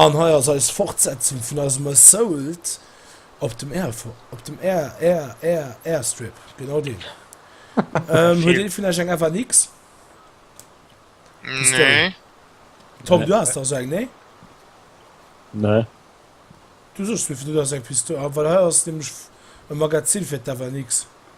An hei ass eis Fortsetzung vun eisem Assault op dem Airstrip, genau deen. Huet ee vun Iech eng FNX? Nee. Tom, du has dach esou eng, nee? Nee. Du soss mir, du has eng Pistol, well hei ass nämlech e Magazin fir d'FNX.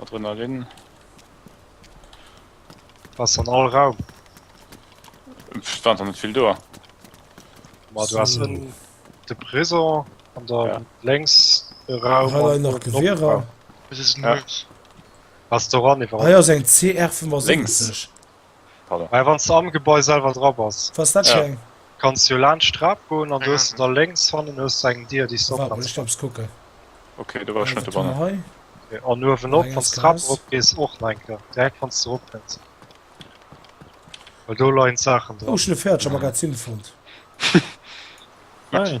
Adrenalin. Ass an all Raum. Stand net vill do. Ma du ass en de Prison an der ja. lenks e Raum nach Gewierer. Ass do ran iwwer. Eier seg CR vu links. Pardon. Mä wann s de am Gebai selwer dra bass, kanns de jo laanscht d'Trap goen an du hues de da lénks hannen hues de eng Dier, déi s de opmaachen kans. An uewenop, wann s d'Trap erop gees, och nach eng Kéier, direkt wann s de eropkënns, well do leien d'Saachen dran. Gutti.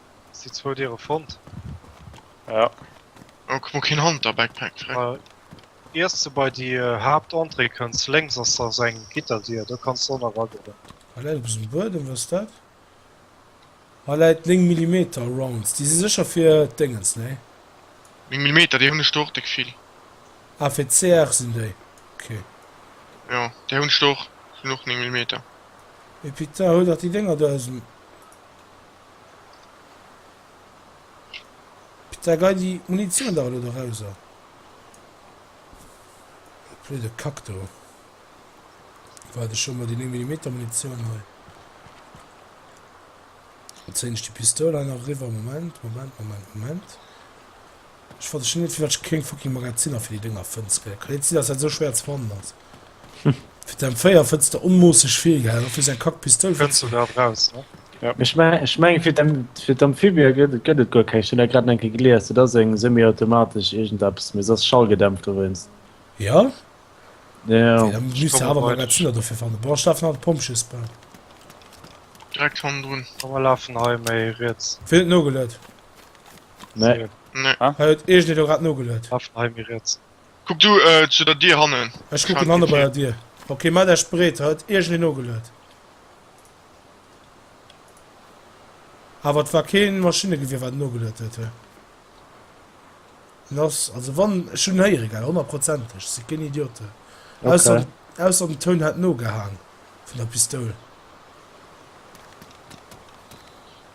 Si zwou Diere fonnt. Ja. Oh kuck mol keen Hanter-Backpack, freck. Äh, iers de bei déi Haaptentrée kënns, lénks ass da sou eng Gitterdier, do kanns de ënner ragoen. Hei läit eppes um Buedem, wat ass dat? Hei läit 9 Millimeter Rounds, déi si sécher fir d'Déngens, nee? 9 Millimeter, déi hunn ech do och déck vill. Ah, fir d'CR sinn déi, ok. Jo, déi hunn ech do och, sinn och 9 Millimeter. Et Pita, huel dach déi Dénger do aus dem. Da gei déi Munitioun dach elo dorauser. Blöde Kack do. War et scho mol déi 9 Millimeter Munitioun hei. Zéin ech déi Pistoul hei nach eriwwer. Moment, Moment, Moment, Moment. Ech verstinn net firwat ech keng fucking Magaziner fir déi Dénger fënn. S, Ka net sinn dass dat esou schwéier ze fannen ass. Fir d' M4 fënns de onmoosseg vill, gell? A fir säi kack Pistol fënns de och. Ech mengen fir d' Amphibia gëtt et guer keng. Ech hunn dat grad eng Kéier gelies. Dat ass eng semi-automatesch iergendeppes, mee se ass schallgedämpt dowéinst. Jo? Jo. Wéi, da misst de awer Magaziner dofir fannen. Bon, ech lafen hei op d'Pompjeesbaan. Direkt hannendrun. Komm mer lafen hei méi riets. Wien huet nogeluet? Nee. Nee. Ah. Hei huet iech dir grad nogeluet. Affen hei mir riets. Kuck du äh, zu der Dier hannen. Ech kucken hanne bei der Dier. Okay, maat eech bereet, huet iech dir nogeluet. Awer et war keen Maschinnegewier wat nogeluet huet hei. Lass, also wann, ech hun héier egal, honnerprozenteg, ech si keen Idiote. Okay. Ausser, ausser den Toun hat nogehang vun der Pistoul.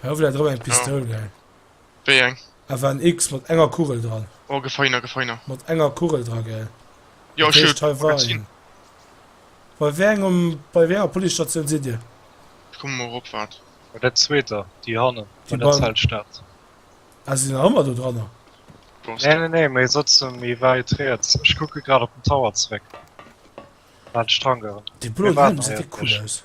Hei wëll dat rëm eng Pistoul gell? Wéi eng? Awer en X mat enger Kugel dran. Oh gefeiner gefeiner. Mat enger Kugel dra gell? Jo ech hun e Magazin. Bei wéi engem bei wéi enger Policestatioun sidd dir? Ech komme mol rop waart. Bei der zweeter déi hannen bei der Zeltstad. Ah si sinn nach ëmmer do dranner? Nee nee nee mee sëtze méi wäit riets. Ech kucke grad op den Tower zeréck waart ech dran gouf. Dee bloen Helm gesäit eh cool aus.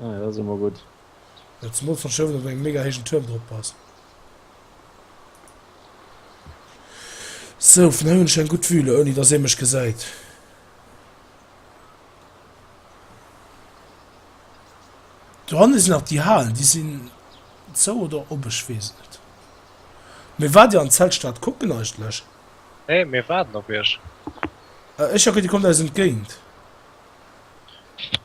Ah ja, dat ass ëmmer gutt. Jo, zemools wann Schëffleng op engem mega héijen Tuerm drop ass. Sou, vun hei hunn ech eng gutt Vue, ouni dass ee mech gesäit. Doranne sinn nach déi Halen, déi sinn zou oder op, ech weess et net. Mee waart Dir an d'Zeltstad kucken eigentlech? Nee, mir waarden op Iech. Ech, jo, dir kommt eis entgéint.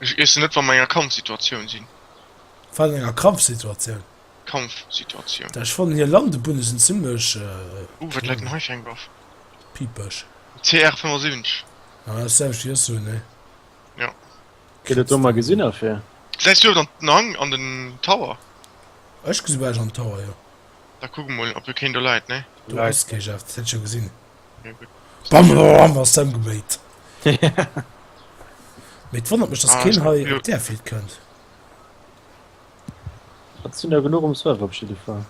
Ech iessen net wann mer enger Kampfsituatioun sinn. Wat an enger Krampfsituatioun? Kampfsituatioun. Ech fannen hir Landebunne sinn zimlech. Ooh wat läit en hei fir eng Waff? Piipeg. CR 75. Ah dat ass selwecht wéi ech soen nee. Jo. Gëtt et do mol gesinn a fir. Säis du dann den Hang an den Tower? Ech gesi bal ech an den Tower jo. Da kuck emol ob do keen do läit nee. Do ass kee Jeff dat hätt ech jo gesinn. Bam, bam, bam, ass emgeméit. Mit wonnert mech, dass ah, keen hei op der Field kënnt. Dat sinn ja genug um Server op jeden Fall.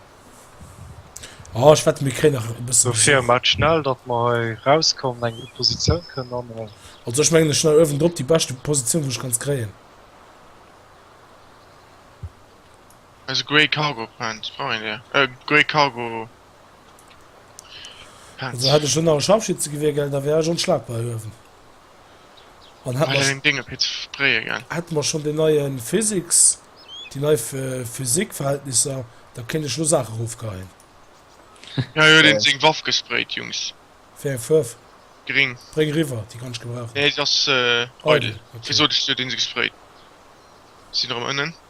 Oh, ich wette mir kre nach so fir mat schnell dat mal rauskommen eng Position können an also ich mengge schnell öwen drop die beste Position wo ich ganz kreen also Grey Cargo Pant Freunde äh, Grey Cargo Also hätt ech elo nach e Scharfschützegewier, gell, da wär ech onschlagbar hier uewen. An hätt mer, hätt mer schonn deen neie Physics, déi nei Physik-Verhältnisser, da kéint ech elo Saachen erofgeheien. Jo, jo, deen huet seng Waff gesprayt, Jungs. Wéi eng Fuerf? Gring. Bréng eriwwer, déi kann ech gebrauchen. Nee, se ass eidel. Wéi sot ech dir, deen huet se gesprayt. Sinn erëm ënnen.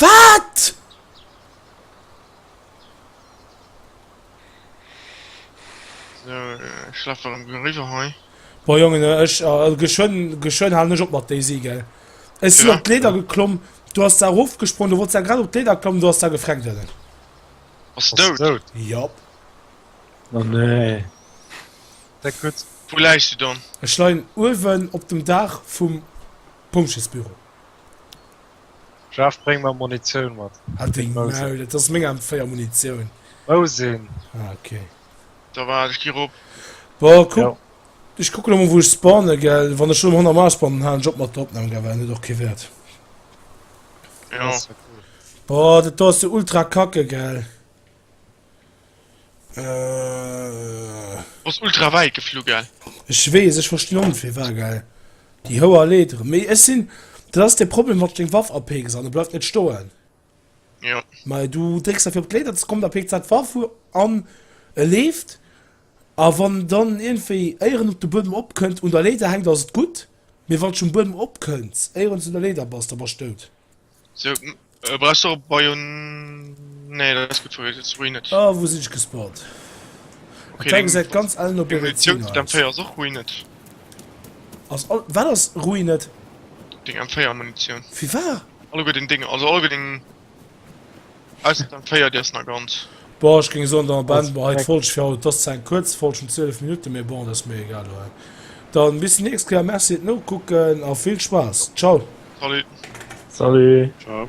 Wat? So, ech laf well am riwwer hei. Boah Jongen, ech, geschwënn, geschwënn halen ech op mat Daisy, gell. Ech sinn op d'Leeder geklomm, du ass da erofgesprongen, du wolls da grad op d'Leeder klammen, du ass da gefreckt ënnen. Ass se dout? Jop. Oh nee. Deck gutt. Wou läis du dann? Ech leien uewen op dem Daach vum Pompjeesbüro. Jeff bréng mer Munitioun mat. Halt deng Maul, et ass meng M4 Munitioun. Wou sinn? Ah ok. Da waart ech gi rop. Bon kuck, ech kucken emol wou ech spawnen gell, wann ech lo mam 100 Max spawnen halen ech op mat der Opnahm gell, well dann huet och kee Wert. Jo. Boah dat do ass jo ultra kacke gell. Äh. Ass ultra wäit geflu, gell? Ech weess, ech verstinn och net fir wat, gell? Déi hoer Leederen. Mee ech sinn. Dat ass de Problem, wann s deng Waff apeekst an e bleift net stoen. Jo. Mä du drécks da fir op d'Leeder ze kommen, da peekt sat d'Waff u an e leeft. A wann en dann iergendwéi éieren op de Buedem opkënnt, un der Leeder hänkt, ass et gutt. Mee wann s de um Buedem opkënns, éieren s du un der Leeder bass, da bass s dout. So, äh, brauchst du op Bayon. Nee, dat ass gut verwirrt, jetzt ruin net. Ah, wo sinn ech gespawnt? Okay, Attack seid ganz allen op ihre Munition zu dem 4 ass och ruin net. Ass all, wat ass ruin net? Ding M4 Munition. Wie war? Alle gut den Ding, also alle gut den Ausser dann féiert dir es na ganz. Boah ech géing soen dann am Enn boah hei d'Folg fir haut, et ass zwar eng kuerz Folg vun 12 Minutten mee bon et ass mir egal lo hei. Dann bis déi nächst Kéier, merci fir d'Nokucken a vill Spaass. Ciao. Salut. Salut. Ciao.